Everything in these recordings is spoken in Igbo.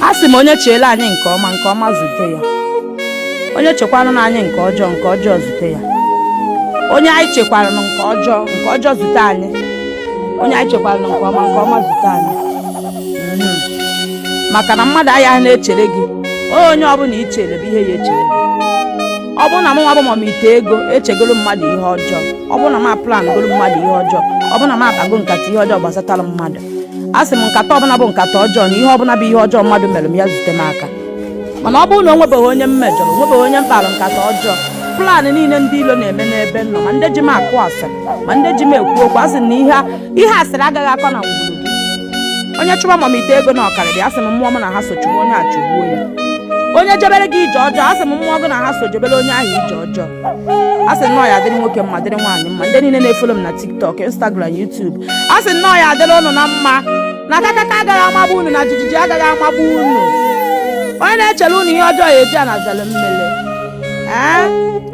a sị m onye cheere anyị nke ọma nke ọma zute ya onye chekwaranụ anyị nke ọjọọ nke ọjọọ zute ya onye anyị chekwaranụ nke ọjọọ nke ọjọọ zute anyị onye anyị chekwaranụ nke ọma nke ọma zute anyị Mhm. maka na mmadụ anya na-echere gị onye ọbụla i chere bụ ihe ya echere gị ọ bụrụ na mụnwa bụ mam ite ego echegoro mmadụ ihe ọjọọ ọ bụrụ na m aplangoro mmadụ ihe ọjọọ ọ bụrụ na m akpago nkata ihe ọjọọ gbasatara mmadụ a sị m nkata ọbụla bụ nkata ọjọọ na ihe ọbụla bụ ihe ọjọọ mmadụ mere m ya zute m aka mana ọ bụrụ na o nwebeghị onye m mejọrọ o nwebeghị onye m kpara nkata ọjọọ plan niile ndị ilo na-eme n'ebe m nọ ma ndị ji m akụ asịrị ma ndị ji m ekwu okwu a sị m na ihe asịrị agaghị akọ na ngwuru gị onye chụba mam ite ego na ọ karịrị a sị m mmụọ m na ha so chụwa onye a chụgbuo ya onye jebere gị ije ọjọọ a sị m mmụọ gị na ha so jebere onye ahụ ije ọjọọ a sị na ọ ya adịrị nwoke mma dịrị nwaanyị mma ndị niile na-efolo m na tiktok instagram youtube a sị na ọ ya adịrị unu na mma na kakaka agaghị amagbu unu na jijiji agaghị amagbu unu onye na-echere unu ihe ọjọọ ya eji anazalụ mmele ee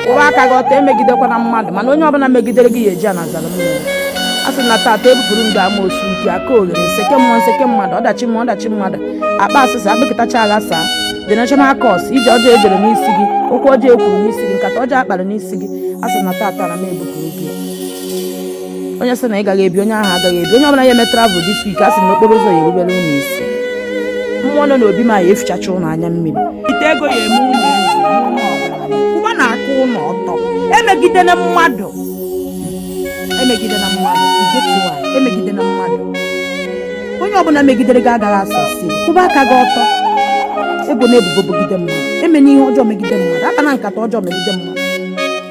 kwụba aka gị ọtọ emegidekwana mmadụ mana onye ọbụla megidere gị ya eji anazalụ mmele a sị na tata ebupụrụ ndị amosu ji aka oghere nseke mmụọ nseke mmadụ ọdachi mmụọ ọdachi mmadụ akpa asịsa akpakọtacha aghasaa generational curse ije ọjọọ ejere n'isi gị okwu ọjọọ ekwuru n'isi gị nkata ọjọọ akpara n'isi gị a sị na tata na m ebupụrụ gị onye sị na ị gaghị ebi onye ahụ agaghị ebi onye ọbụla ya eme travel this week a sị na okporo ụzọ ya erubere unu isi mmụọ nọ n'obi m ya efichacha unu anya mmiri ite ego ya eme unu ezi ụlọ ọgaranya kwụwanụ aka unu ọtọ emegidela mmadụ emegidela mmadụ igetuwa emegidela mmadụ onye ọbụla megidere gị agaghị asọ si kwụba aka gị ọtọ ebona ebubo bogide mmadụ emena ihe ọjọọ megide mmadụ akpana nkata ọjọọ megide mmadụ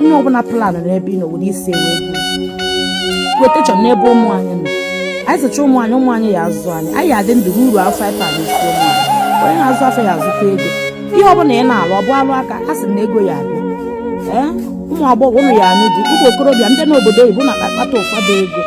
onye ọbụla planụ n'ebe ị nọ were isi ewe protection n'ebe ụmụ anyị nọ anyị zụcha ụmụ anyị ụmụ anyị ya azụ anyị anyị adị ndụ ruo uru afọ anyị anyị isi ụmụ anyị onye na-azụ afịa ya azụta ego ihe ọbụla ị na-alụ ọ bụ ọlụ aka a sị na ego ya abịa ee ụmụ agbọghọ unu ya anụ di ụmụ okorobịa ndị n'obodo oyibo na-akpata ụfọdụ ego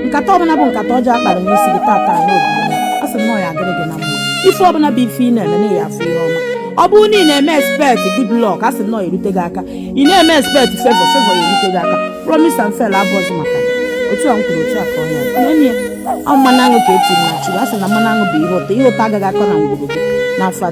nkata ọbụla bụ nkata ọjọọ akpara n'isi gị tata n'obodo a sị na ọ ya adịrị gị na mma ife ọbụla bụ ife ị na-eme na ị ya afụ ihe ọma ọ bụrụ na ị na-eme expect good luck a sị na ọ ya erute gị aka ị na-eme expect favor favor ya erute gị aka promise and fail abụrọzi maka ya otu a m kwuru otu a ka ọ ya n'enye ọ mmanụ aṅụ ka eti na chụrụ a sị na mmanụ aṅụ bụ ihe ụtọ ihe ụtọ agaghị akọ na ngwuru gị n'afọ a